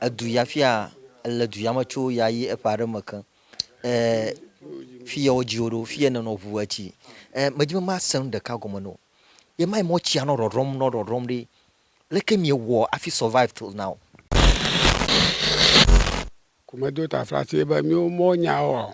edu ya fia ele du ya me tso ya yi eƒe aɖe me ke e fi ya wodzi wo ɖo fi ya nenɔ ŋu etsi e medi be mase nu ɖeka gɔme na wo ye ma yi mɔ tsia nɔ ɖɔɖɔm nɔ ɖɔɖɔm ɖi leke miewɔ afi survive till now. Ku medo taflatse be miwo mɔnyaoa.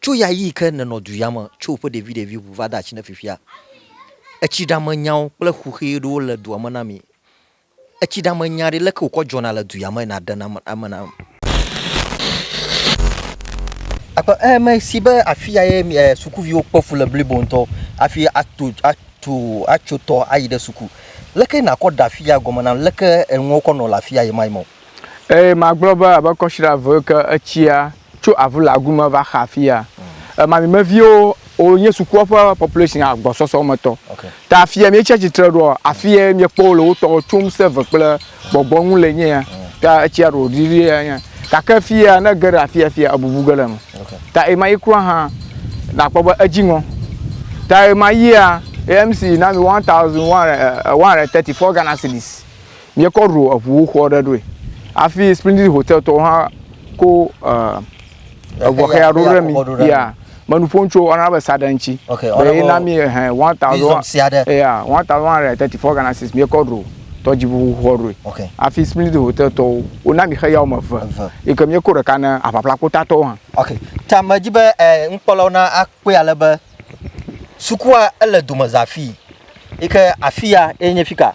Tso ɣeaɣi ke nenɔ duya me tso ƒe ɖeviɖevi ŋu va de atsi ne fifia, etsiɖamenyawo kple xuxee ɖewo le dua me na mi. Etsiɖamenya ɖe leke wokɔ dzɔna le duya me na ɖena ame nam. Akpe e me si be afia ye mi e sukuviwo kpe fu le blibo ŋutɔ afi ato ato atso tɔ ayi ɖe suku. Leke nakɔ ɖe afia gɔme nam leke enuwo kɔ nɔ le afia ye ma ye mɔ. Eye magblɔ be abe kɔsiɖa eve yiwo ke etsia tso avulagu me va xa afi ya. Mm. Mami me viwo wonye sukua ƒe population agbɔsɔsɔ me tɔ. Okay. Ta afi ya míetsi atsitre ɖoa, afi ya míekpɔ wole wotɔwo tsom save kple gbɔgbɔ ŋu le nye ya. Mm. Ta etsia ɖo ɖiɖi ya nye. Gake afi ya ne ge ɖe afi ya afi ya ebubu ge ɖe eme. Okay. Ta ema yi kura hã nakpɔ be edzi ŋɔ. Ta ema yia AMC na mi 1130 eh, eh, Ghana cedis. Míekɔ ɖo eŋu xɔ ɖe ɖoe hafi Splendid Hotel tɔwo hã ko eŋɔxea ɖo ɖe mi. Ya, menu ƒom tso ɔna be saɖe ŋuti. Be ye na mi ehɛ one thousand ya one thousand one hundred and thirty four Ghana cedis míekɔ ɖo tɔdziŋu xɔ ɖoe. Hafi Splendid Hotel tɔwo wona mi xeya wɔme eve yi ke míeko ɖeka na Aʋaʋla Kpota tɔwo hã. Ok, ta medi be nukpɔlawo na akpɔe ale be sukua ele domeza afii yi ke afia ye nye fika.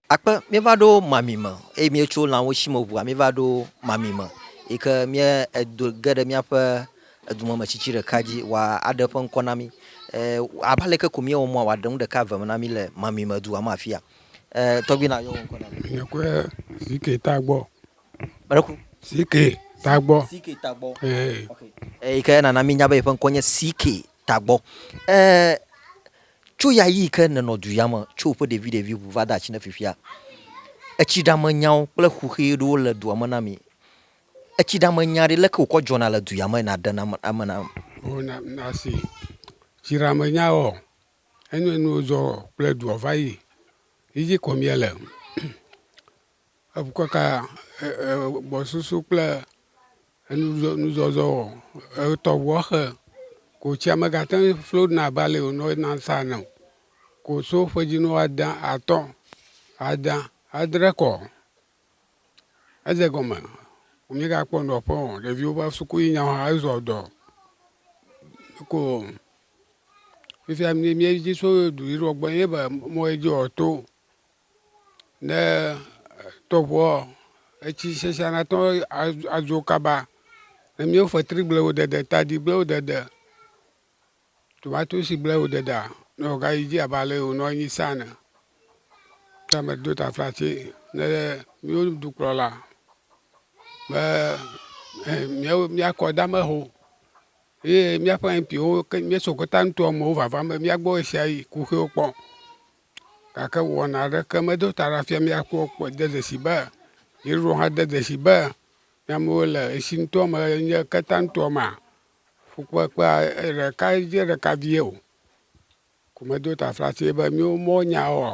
Akpe, míeva ɖo mami me eye míetso lãwo si me ŋua míeva ɖo mami me yi ke mía edo ge ɖe míaƒe edumemetsitsi ɖeka dzi wòa aɖe eƒe ŋkɔ na mí. Eh, abe aleke ko míewɔ mɔa wòaɖe nu ɖeka eve me na mí le mami me dua me afia. Eh, tɔgbi na yɔ wò ŋkɔ na mí. Nye kue Zike Tagbɔ. Meɖeku. Zike Tagbɔ. Zike Tagbɔ. Eh. Ok. Eh, yi ke nana mínya be yeƒe ŋkɔ nye Zike Tagbɔ. Eh, Tso ɣeaɣi ke nenɔ duya me tso ƒe ɖeviɖevi ŋu va de atsi ne fifia, etsiɖame nyawo kple xuxi ɖewo le dua me na mi. Etsiɖame nya ɖe leke wokɔ dzɔna le duya me na ɖena ame nam. Ho na nasi tsiɖame nya wɔ enye nuwo dzɔ kple dua va yi yidzi kɔ mia le. Ekaka gbɔsusu kple nuzɔzɔ wɔ etɔ ʋua xe ko tsia megate ŋu flo ɖuna abe ale wònɔ ena sa ene o. Ko so ƒedzinu ada atɔ̃, ada, adre kɔ. Edze egɔme womegakpɔ nɔƒe o. Ɖeviwo va suku yi nyawo hã ezɔ dɔ. Ko fifia míedzi tso duyiɖewo gbɔ ye be mɔ ye dzi wòato Ne tɔʋuɔ, etsi sesẽa na tɔ adzo kaba. Ne míewo fetri gblẽ wo dede, tadi gblẽ wo dede, tomatosi gblẽ wo dedea, ne wògayi dzi abe ale yi wònɔ anyi sa ene. Ke me ɖo ta fla tse ne míwo dukplɔla be míawo míakɔ dama ho ye míaƒe MP-wo ke míeso gota nutoamewo vavam be míagbɔ ɣeshiaɣi kuxiwo kpɔ. Gake wɔna aɖeke medo ta ɖa fia mía kpɔ kpɔ de dzesi be Yesu hã de dzesi be ne amewo le esi ŋutɔ me enye keta ŋutɔ mea, fukpekpea ɖekae dze ɖeka vie o. Ko medo taflatse be míwo mɔnyawoa?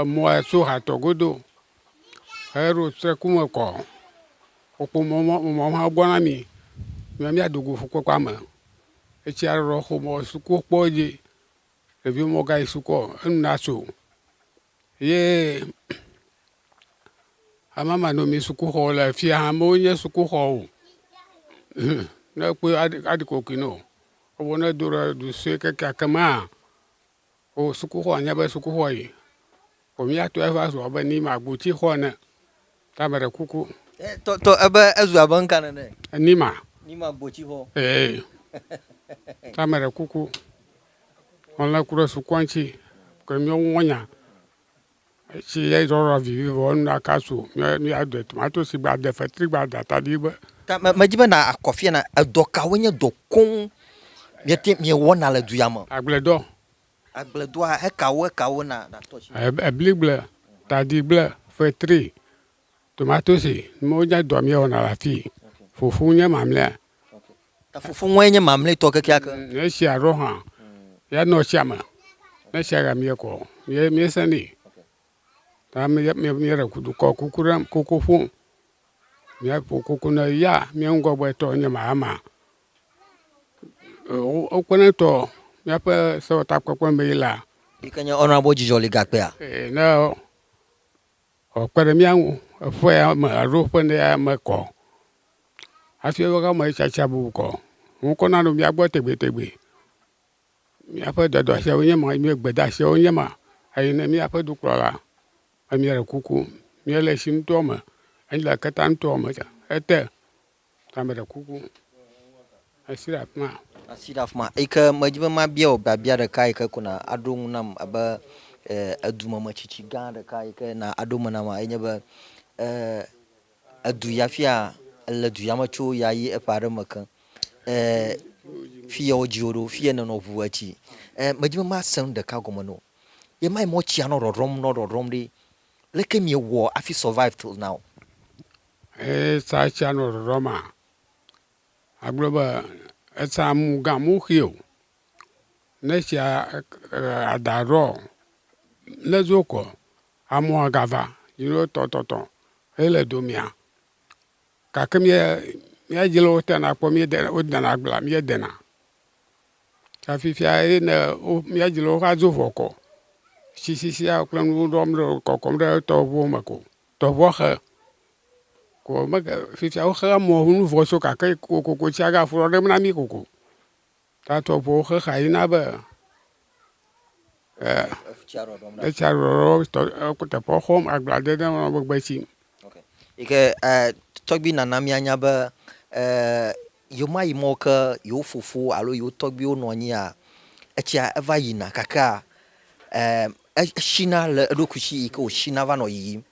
Emɔa tso hatɔ godo heɖo te ku me kɔ. Wokpɔ mɔ mɔ mɔ hã gbɔ na mì be míado go ƒukpekpea me. Etsia ɖeɖɔ xomɔ suku kpɔ edzi. Ɖevi mɔ gayi sukɔ enu natso ye amamanɔmi sukuxɔ le afi ya hã mewo nye sukuxɔ o. Ne ekpɔe aɖi aɖi kokoe nɛ o. Evɔ ne edo ɖe du sue kekeake mea O sukuxɔ nye be sukuxɔ yi o mía tɔe va zu abe ni ma goti xɔ ene. Ta me ɖe kuku. E tɔ tɔ ebe ezu abe ŋka nene. Ni ma. Ni ma goti xɔ. Ee. Ta me ɖe kuku. Ŋlɔe ku ɖe sukua ŋuti ke mía ŋu nya. Esi edzɔdzɔ vivivo enu la kasu ne yeaɖe tomatosi gbe ade fetri gbe ada tadi gbe. Ta me medi be na akɔ afia na edɔ kawoe nye dɔ koŋ miete miewɔna le du ya me. Agbledɔ. Agbledɔa ekawo ekawo na na tɔ dzi. Ebligble, tadigble, fetri. Tomatosi, wonye dɔ míewɔna le afii. Fufu nye mamlɛa. Ta fufu ŋue nye mamlɛtɔ kekeake. Mm, esia ɖo hã, ya nɔ tsia me. Ne tsia ya míekɔ, mie miesẽnɛ. Ta míeɖe dukɔ kuku ɖe kuku ƒom. Míaƒo kuku ne ya mía ŋgɔgbetɔ nye Mahama. Wokpeɖeŋutɔ míaƒe sewɔtakpekpe mee la. Yi ke nye Honourable Dzidzɔli Gakpea. Ee, ne. Wòakpe ɖe mía ŋu eƒea me alo ƒe nea me kɔ hafi eƒe ame tsatsa bubu kɔ. Ŋkɔ nanɔ mía gbɔ tegbetegbe. Míaƒe dɔdɔasiawoe nye ma, nye gbedeasiawoe nye ma. Eyi ne míaƒe dukplɔla be míele kuku míele tsi ŋutɔ me, míele keteaŋutɔ me ete. Ta meɖe kuku, esi ɖe afi ma. Asi ɖe afi ma eyi ke medi be mabia wò biabia ɖeka yi ke ko na aɖo eŋu nam abe edumemetsitsi gã ɖeka yi ke na aɖo me nam enye nye be edu ya fia le du ya me tso ya yi eƒe aɖe me ke fi ya wodzi wò ɖo fi ya nènɔ ʋu etsi medi be mase nu ɖeka gɔme na wò ye ma yi mɔ tsia nɔ ɖɔɖɔm nɔ ɖɔɖɔm ɖi leke miewɔ hafi survive till now. Eye sa tsia nɔ ɖɔɖɔ ma agblɔ be esa mu ga mu xi o ne tsia ada ɖɔ ne zo kɔ amu aga va yi ɖo tɔ tɔ tɔ he le domea gake mía mía dzi le wo te na kpɔ mía de wo de na agblea mía de na ta fifia ye ne wo mía dzi le wo va zo vɔ kɔ sisi sia kple nuwo ɖɔm ɖe kɔkɔm ɖe tɔʋuwo me ko. Tɔʋɔxe, ko mege fifia wo xea mɔ ŋu nuvɔ so gake kokoko tsia ga ƒlɔ ɖem na mi koko. Ta tɔʋɔwo xe xa yi na be e etsia ɖɔɖɔm tɔ eku teƒe xɔm agble ade ɖe eme megbe tsim. Yike e tɔgbi nana mia nya be e Yewomayi mɔ ke yewo fofo alo yewo tɔgbuiwo nɔ anyia? Etsia eva yina kakea, e, eshina le eɖokui si yi ke wòshina va nɔ yiyim.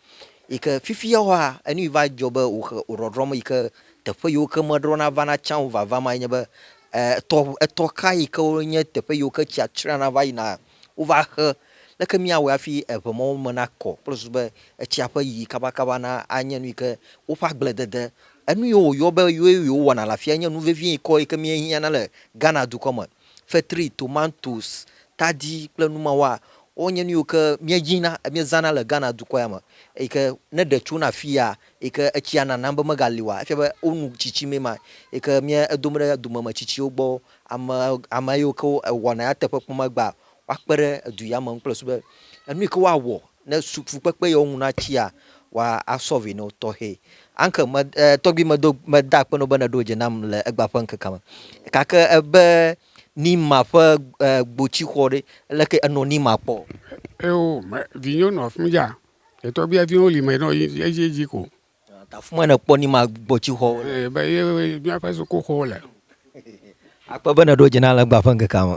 Yi ke fifia woa, enu yi va dzɔ be wòhe wòɖɔɖrɔm yi ke teƒe yiwo ke meɖɔna vana tsã o vava ma ye nye be, e, etɔ, etɔ ka yi ke wonye teƒe yiwo ke tsia tsrena va yinaa? Wova xe. Leke míawɔe hafi eŋe mɔwo me nakɔ kple susu be etsia ƒe yiyi kabakaba na anye nu yi ke woƒe agbledede, enu yi woyɔ be ye wowɔna le afia nye nu vevie ŋkɔ yi ke míehiãna le Ghana dukɔ me. Fetri, tomatoes, tadi kple nu mawoa, wonye nu yiwo ke míenyina, míezãna le Ghana dukɔ ya me eyi ke ne ɖe tsona afia yi ke etsia nanam be megali oa, efia be wonu tsitsi mee ma yi ke mía edom ɖe domeme tsitsiwo gbɔ Ame, ame yiwo ke wɔna nyateƒe kpɔ megbea, woakpe ɖe edu ya me ŋu kple su be enu yi ke woawɔ ne su fukpekpe yi wo ŋu na tsia, wa asɔlvi na wo tɔxɛ. Anke me, e, tɔgbui medo, meda akpe na wo be ne ɖo dze nam le egbea ƒe ŋkekea me. Gake ebe Nima ƒe e, gbotsi xɔ ɖe, leke enɔ Nima kpɔ? Eo, me, vinyɔnu afimdza. Etɔgbuia viwo li me nɔ edzi edzi ko. Tafumɔe nèkpɔ ni ma gbɔ tsi xɔ. Ee be ye míaƒe sukuxɔ le. Akpe be nèɖo dzi na legba ƒe ŋkekea me.